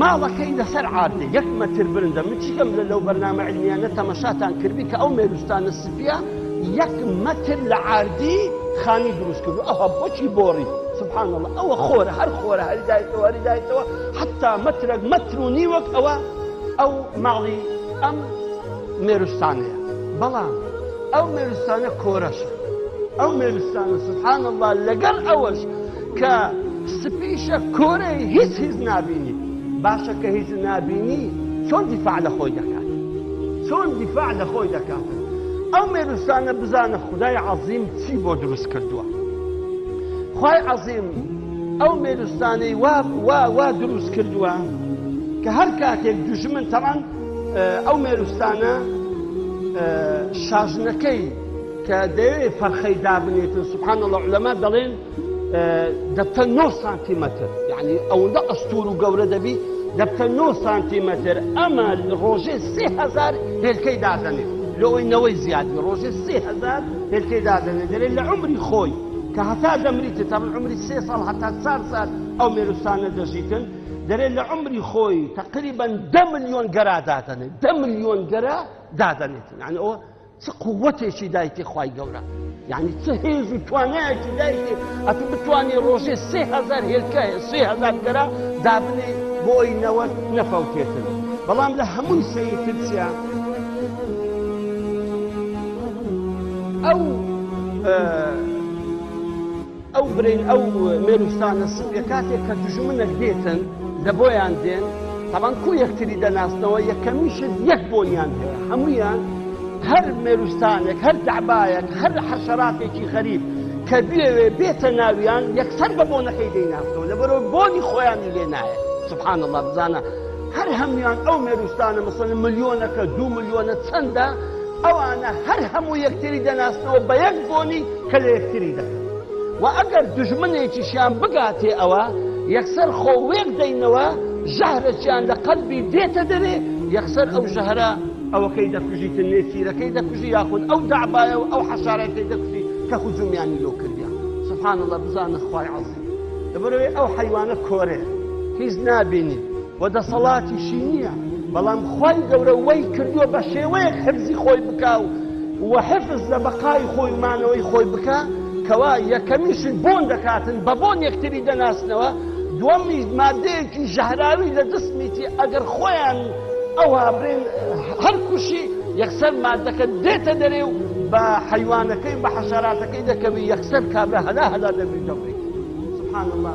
ماڵەکەی لەسەر عاردێ یەک مەتر برندە من چیکەم لە لەو بەرنامە علمیانە تەمەشاتان کردبی کە ئەو مێروستانە سپیە یەک مەتر لە عاردی خانی دروست کردو ئەوها بۆچی بۆڕی سبحان اللە ئەوە خۆرە هەر خۆرە هەری دایتەوە هەری دایتەوە حتا مەترەک مەتر و نیوەک ئەوە ئەو ماڵی ئەم مێروستانەیە بەڵام ئەو مێروستانە کۆرەشە ئەو مێروستانە سبحان اللە لەگەڵ ئەوەش کە سپیشە کۆرەی هیچ هیچ نابینی باشە کە هیچ نابینی چۆن دیفاع لە خۆی دەکات چۆن دیفاع لە خۆی دەکاتن ئەو مێروسانە بزانە خدای عەظیم چی بۆ دروست کردووە خی عەظیم ئەو مێروستانەی وا وا وا دروست کردووە کە هەر کاتێک دژمن تەمان ئەو مێروستانە شاژنەکەی کە دەیەوێت فەرخەی دابنێتن سبحان الله لەما دەڵێن دەبتە نۆ سانتیمەتر یعنی ئەوەندە ئەستور و گەورە دەبی دەبتە نۆ سانتیمەتر ئەمە ڕۆژێ سهزار هێلکەی دادەنێت لەوەی نەوەی زیادی ڕۆژێ سهزار هێلکەی دادەنێت دەێت لە عمری خۆی کە هەتا دەمریتە تا من عمری سێ ساڵ هەتا چار ساعت ئەو مێروسانە دەژیتن دەێت لە عمری خۆی تقریبا ده میلیۆن گەرا دادەنێت ده میلیۆن گەرا دادەنێت یعنی ئەوە چ قوتێکی دایتێ خوای گەورە یعنی چ هێز و توانایەکی دایتێ ئەتو بتوانێ ڕۆژێ سێ هزار هێلکایە سێ هزار گەرا دابنێ بۆی نەوە نەفەوتێتن بەڵام لە هەمووی سەری ترسیا ئەو ئەو برین ئەو مێرووسانە سووریە کاتێک کە دوژمنەک دێتن لە بۆیان دێن تاڵان کو یەکتری دەناسنەوە یەکەمیشت یەک بۆنیان هەیە هەمویان هەر مێرووسانێک هەر دەعبایەک هەر حەشەراتێکی غەریب کە بێوێ بێتە ناویان یەکسەر بە بۆنەکەی دەیناسنەوە لە بەرەو بۆنی خۆیانی لێ نایە سبحان الله بزانە هەر هەمویان ئەو مێرووسانە مەسەن ملیۆنەکە دوو ملیۆنە چەندە ئەوانە هەر هەموو یەکتری دەناسنەوە بە یەک بۆنی کە لە یەکتری دەکەن و ئەگەر دوژمنێکیشیان بگاتێ ئەوا یەکسەر خۆ وێک دەینەوە ژەهرەکیان لە قەلبی دێتە دەرێ یەکسەر ئەو ژەهرە ئەوەکەی دەکوژیتن نێچیرەکەی دەکوژی یاخود ئەو دەعبایە و ئەو حەشارەکەی دەکوژی کە هجومیانی لۆ کردیە سبحان اللە بزانە خوای عەزیز لەبەرئەوەی ئەو حەیوانە کۆرەیە هیچ نابینی. و دەسەڵاتیشی نیە بەڵام خوای گەورە وەی کردوە بەشێوەیەک حفزی خۆی بکا و و حفز لە بەقای خۆی و مانەوەی خۆی بکا کەوا یەکەمیشی بۆن دەکاتن بە بۆن یەکتری دەناسنەوە دوەمیش مادەیەکی ژەهراوی لە جسمیتی ئەگەر خۆیان ئەوا بێن هەر کوشی یەکسەر مادەکە دێتە دەرێ و بە حەیوانەکەی بە حەشەراتەکەی دەکەوی یەکسەر کابرا هەلا هەلا دەبی و دەمری سبحان اللە.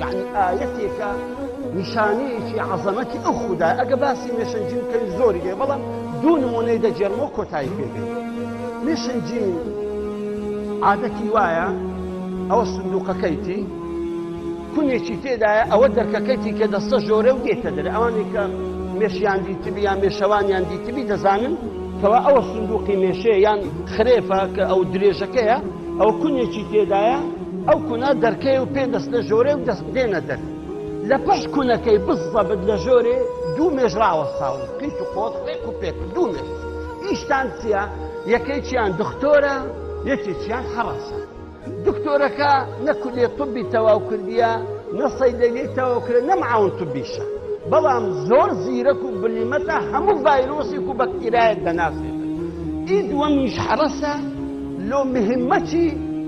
یەعنی ئایەتێکە نیشانەیەکی عەزەمەتی ئەو خودا ئەگە باسی مێشەنجیم کەی زۆری هەیە بەڵام دوو نمونەی دەجێرمۆ کۆتایی پێگەی مێشەنجیم عادەتی وایە ئەوە سندوقەکەیتی کونێکی تێدایە ئەوە دەرکەکەیتی کە دەستە ژۆرە و دێتە دەر ئەوانی کە مێشیان دیتبی یان مێشەوانیان دیتبی دەزانن کەوا ئەوە سندوقی مێشەیە یان خرێفە کە ئەو درێژەکەیە ئەوە کونێکی تێدایە، ئەو کونە دەرکەیە و پێ دەستە ژۆرێ و دەست دێنە دەر، لە پشت کونەکەی بز زەبت لە ژۆرێ دوو مێش ڕاوەستاون، قیت و قۆت، ڕێک و پێک، دوو مێش، ئیشتان چییە؟ یەکێکیان دختۆرە، یەکێکیان هەڕەشە. دکتۆرەکە نە کولێ طبی تەواو کردییە، نە سەیدەلیی تەواو کردە، نە معاون طبیشە، بەڵام زۆر زیرەک و بلیمەتە، هەموو ڤایرۆسێک و بەکتیرایەک دەناسێتن. ئی دووەمیش هەڕەشە، لۆ مهمە چی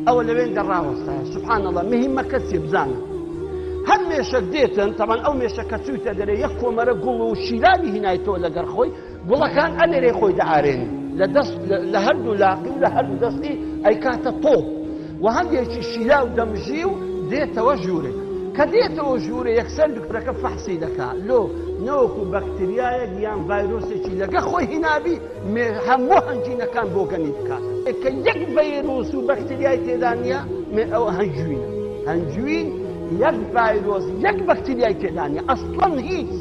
ئەوە لەوێندە ڕاوەستایە سبحان اللە مهمەکە چیە بزانە هەر مێشەک دێتن تەبان ئەو مێشە کە چوویتە دەرێ یەک کۆمەرە گوڵ و شیلانی هینایتەوە لەگەر خۆی گوڵەکان ئەلێرەی خۆی دەئارێن لە دەست لە هەردوو لاقی و لە هەردوو دەستی ئەیکاتە تۆ و هەندێکی شیلا و دەمژی و دێتەوە ژوورێک کە دێتەوە ژوورە یەکسەر دکتۆرەکە فەحسی دەکا لۆ نەوەکو بەکتریایەک یان ڤایرۆسێکی لەگە خۆی هینابی مێ هەموو هەنجوینەکان بۆگەنی بکاتە ئێ کە یەک ڤەیروس و بەکتریای تێدا نییە مێ ئەوە هەنجوینە هەنجوین یەک ڤایرۆس یەک بەکتریای تێدا نییە ئەسڵەن هیچ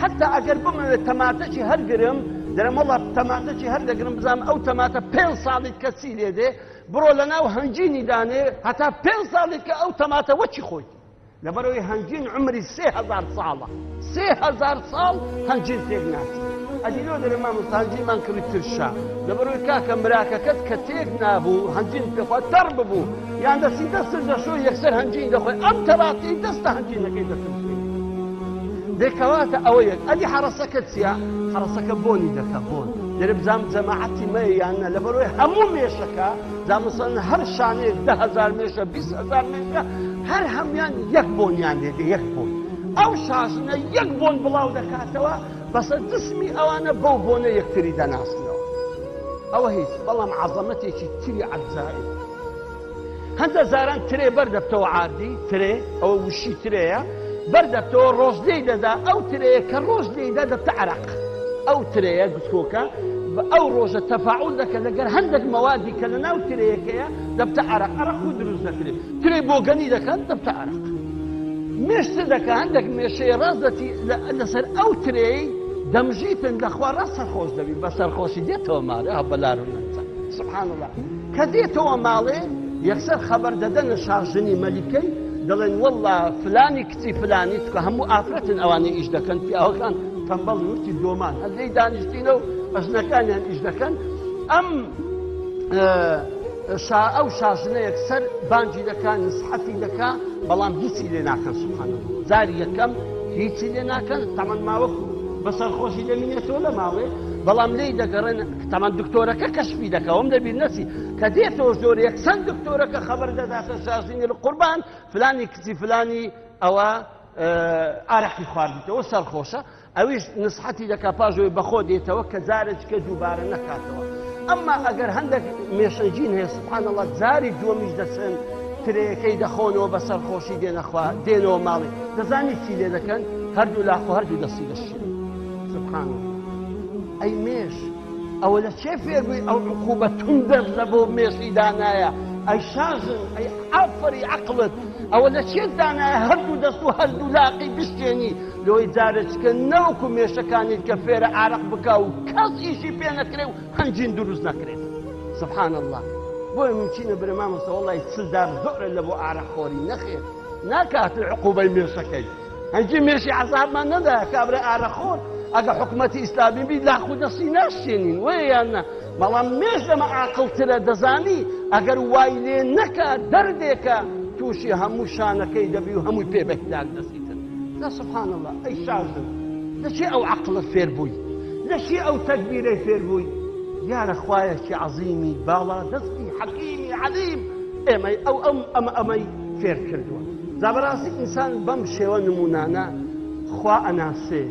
حتا ئەگەر بمەوێت تەماتەکی هەرگرم دەرم وڵات تەماتەکی هەر دەگرم بزانم ئەو تەماتە پێ ساڵیت کە چی لێ دێ بڕۆ لە ناو هەنجینی دانێ هەتا پێ ساڵیت کە ئەو تەماتە وەچی خۆیتی لەبەرئەوەی هەنجین عومری سێ هەزار ساڵە سێ هەزار ساڵ هەنجین تێک ناچێت ئەدی لۆ دەرێ مامۆستا هەنجینمان کڕی ترشە لەبەرەوەی کاکە مراکەکەت کە تێک نابوو هەنجین پێخوا تەڕ ببوو یان دەستی دەستت دەشۆ یەکسەر هەنجین دەخۆی ئەم تەڕاتی دەستە هەنجینەکەی دەترشێ دەکەواتە ئەوە یەک ئەدی حەڕەسەکە چییە؟ حەڕەسەکە بۆنی دەکە بۆن دەرێ بزانم جەماعەتی مەیە یان نە لەبەرەوەی هەموو مێشەکە جا مەسەلەن هەر شانەیەک دە هەزار مێشە بیست هەزار مێشە هەر هەموویان یەک بۆنیان لێ دێ یەک بۆن ئەو شاژنە یەک بۆن بڵاو دەکاتەوە بەسە جسمی ئەوانە بەو بۆنە یەکتری دەناسنەوە ئەوە هیچ بەڵام عەزەمەتێکی تری عەجائیب هەندە زاران ترێ بەردەبتەوە عادی ترێ ئەوە وشی ترەیە بەردەبتەوە ڕۆژ لێی دەدا ئەو ترەیە کە ڕۆژ لێیدا دەبتە عراق ئەو ترەیە گسکۆکە بە ئەو ڕۆژە تەفاعول دەکە لەگەر هەندێک مەوادی کە لە ناو ترەیەکەیە دەبتە عەرەق عەرەق خۆی دروست دەکرێت ترەی بۆگەنی دەکات دەبتە عەرەق مێش چ دەکە هەندێک مێشەیە ڕاست دەتی لەسەر ئەو ترەی دەمژیتن لەخوا ڕاست سەرخۆش دەبی بە سەرخۆشی دێتەوە مارە هە بەلار و نەنجە سبحان الله کە دێتەوە ماڵێ یەکسەر خەبەر دەدەنە شاژنی مەلیکەی دەڵێن والله فلانی کچی فلانی چکە هەموو ئافرەتن ئەوانەی ئیش دەکەن پیاوەکان تەمبەڵ نوتی دۆمان هەر لێی دانیشتینە و ئەژنەکانیان ئیش دەکەن ئەم شا ئەو شاژنەیەک سەر بانجی دەکا نسحەتی دەکا بەڵام هیچی لێ ناکەن سبحانە جاری یەکەم هیچی لێ ناکەن تەمەن ماوەکو بەسەر خۆشی دەمینێتەوە لە ماڵێ بەڵام لی دەگەڕێن تەمان دکتۆرەکە کەشفی دەکەوم لەبیر نەچی کە دێتەوە زۆر یەکسەن دکتۆرەکە خەبەر دەداتە شاژنی قوربان فلانی کچی فلانی ئەوە ئارەقی خواردیتەوە سەرخۆشە ئەویش نسحەتی دەکا پاژۆی بەخۆ دێتەوە کە جارێککە دووبارە نەکاتەوە ئەمما ئەگەر هەندێک مێشەجین هەیە سبحانەڵات جاری دووەمیش دەچن ترەکەی دەخۆنەوە بە سەرخۆشی دێنەخوا دێنەوە ماڵی دەزانی چی لێ دەکەن هەردوو لاخۆ هەردوو دەستی دەشێن سبحان ئەی مێش ئەوە لە کێ فێر بووی ئەو عقوبە توندەت لە بۆ مێشی دانایە ئەی شاژن ئەی ئافەری عەقڵت ئەوە لە چێت دانایە هەردوو دەست و هەردوو لاقی بشکێنی لۆی جارەچکە نەوەکو مێشەکانیت کە فێرە عارەق بکا و کەس ئیشی پێ نەکرێ و هەنجین دروست نەکرێت سبحان الله بۆیە ممچینە برە مامۆستا وەڵی چل دار زۆرە لە بۆ عارەق خۆری نەخێر ناکات عقوبەی مێشەکەی هەنگی مێشی عەزابمان نەدایە کابرای ئارەخۆر ئەگە حکومەتی ئیسلامی بی لاق و دەستی ناشێنین وەیە یان نە بەڵام مێش لەمە ئاقڵترە دەزانی ئەگەر وای لێ نەکا دەردێکە تووشی هەموو شانەکەی دەبی و هەمووی پێ بە هیلاک دەسیتن جا سبحان الله ئەی شازن لەچێ ئەو عەقڵت فێر بووی لەچێ ئەو تەگبیرەی فێر بووی دیارە خوایەکی عەزیمی باڵا دەستی حەکیمی عەلیم ئێمەی ئەو ئەم ئەمە ئەمەی فێر کردووە جا بەراستی ئینسان بەم شێوە نمونانە خوا ئەناسێ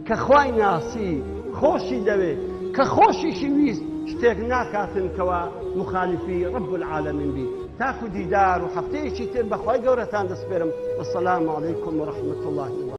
کە خوای ناسی خۆشی دەوێ کە خۆشیشی ویست شتێک ناکاتن کەوا مخالفی رب العالمین بی تاکو دیدار و هەفتەیەکی تر بەخوای گەورەتان دەسپێرم والسلام علیکم ورحمة اللە وبرکاته.